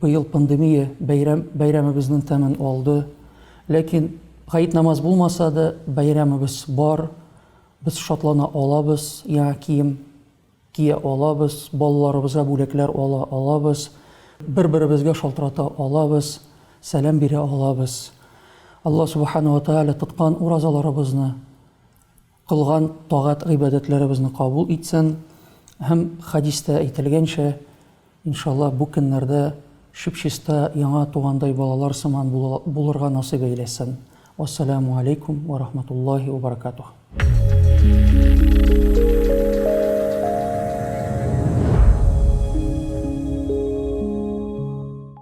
Быел пандемия бәйрәм бәйрәмебезнен тәмен алды. Ләкин гает намаз булмаса да, бәйрәмебез бар. Без шатлана алабыз, яңа кием кия алабыз, балаларыбызга бүләкләр ала алабыз, бер-беребезгә шалтырата алабыз, сәлам бирә алабыз. Алла Субхана ва Тааля тоткан уразаларыбызны Кылган тагать-гыйбадәтләребезне кабул итсен һәм, хәдистә әйтелгәнчә, иншалла, бу көннәрдә чүп-чиста яңа тугандай балалар сыман булырга насыйп әйләсен. Вассаләмү аләйкүм вә рахматуллаһи вә баракатуһ.